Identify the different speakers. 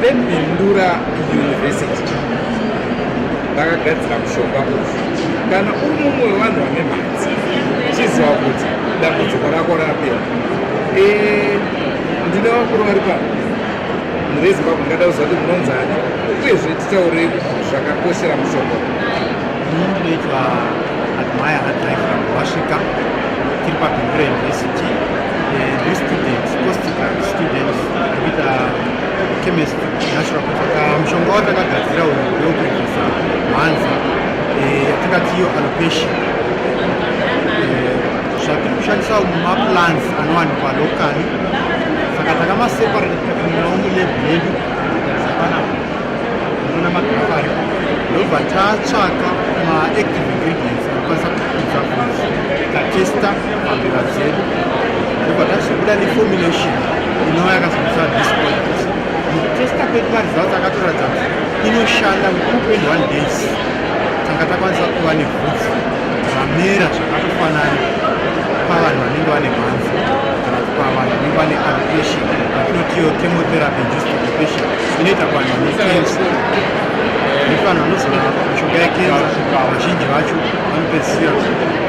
Speaker 1: vebindura university vakagadzira mushonga uyu kana uri mumwe wevanhu vane mhatsi chiziva kuti dambudziko rako rapera e, ndine vakuru vari pano murezimbabwe ndingada kuziva kuti munonzani uyezve titaure zvakakoshera mushonga ini ndinoitwa
Speaker 2: admire hadriver wasvika tiri pabindura university eh, restudent costic students Kuita chemist natural ah, mushonga watakagadzira uyu ndokurwisa mhanza eh, yatingati iyo alopecia eh, zvatiri kushandisa maplans anowanikwa lokali saka takamaseparate tikatumirawo mulebhu yedu tarisapana unoona magrafu aripo ndobva tatsvaka maactive ingredients anokwanisa kukudza fuzi tatesta Fambira dzedu ndobva tazobuda neformulation inova yakazomisa dispoint mutesta kwedu varesults akatoratidza kuti inoshanda mukupen one days tanga takwanisa kuva nebvudzi ramera zvakatofanana pavanhu vanenge vane mhanzi kana kuti pavanhu vanenge vane alocation atinotiyo chemotherapy induced occupation inoita kuvanhu vane cancer nekuti vanhu vanozorapa mishonga yecancer vazhinji vacho vanopedzisira